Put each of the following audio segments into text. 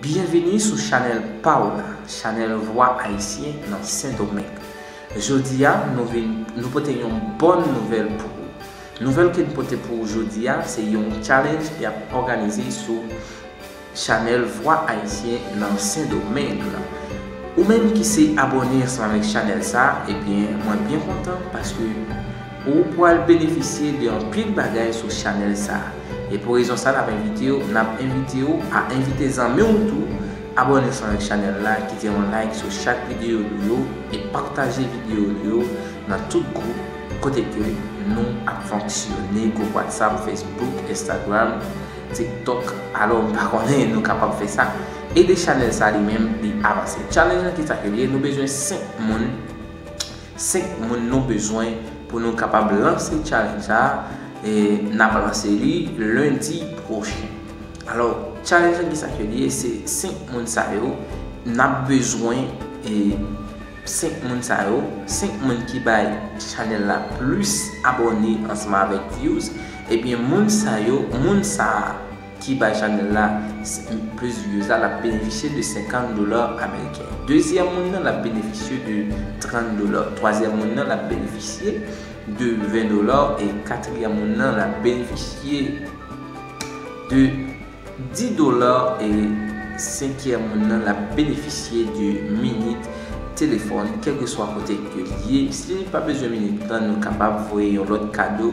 Byenvini sou chanèl pa w la, chanèl Vwa Ayisyen nan Sendomeng. Jodi a, nou vin, nou pote yon bòn nouvèl pou ou. Nouvèl ke n pote pou ou jodi a, se yon challenge y ap òganize sou chanèl Vwa Ayisyen nan Sendomeng la. Ou menm ki se abòne ansanm avèk chanèl sa, ebyen, mwen byen kontan paske. Ou pwal benefisye de anpil bagay sou chanèl sa. E pou rezon sa nap envite w nap envite w a envite zanmi w tou abòne ansanm avèk chanèl la kite yon like sou chak videyo nou yo e pataje videyo nou yo nan tout gwoup kote ke nou ap fonksyone gwoup whatsapp facebook instagram tiktok alò m pa konnen nou kapab fè sa ede chanèl sa li menm li avanse challenge lan kisa ke li ye nou bezwen 5 moun 5 moun nou bezwen pou nou kapab lanse challenge sa e nap lanse li lundi pwochen alò challenge lan kisa ke li ye se 5 moun sa yo nap bezwen e 5 moun sa yo 5 moun ki bay chanel la plis abòne ansanm avèk vyouz ebyen moun sa yo moun sa. ki bay chanèl la plis views la lap benefisye de 50 dollars ameriken dezyèm moun nan lap benefisye de 30 dollars twazyèm moun nan lap benefisye de 20 dollars e katriyèm moun nan lap benefisye de 10 dollars e senkyèm moun nan lap benefisye de minit telefòn kèlkeswa kote ke liye si li pa bezwen minit lan nou kapab voye yon lòt kado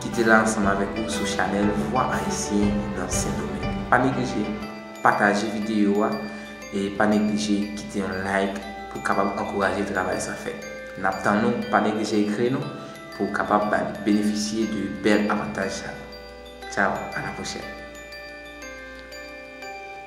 ki te la ansanm avèk ou sou chanèl Vwa Ayisyen nan Sendomeng. Pa neglije pataje videyo a e pa neglije kite yon like pou w kapab ankouraje travay sa fè. N ap tann ou, pa neglije ekri nou pou w kapab benefisye de bèl avantaj sa yo. Tchaw, a la pwochèn!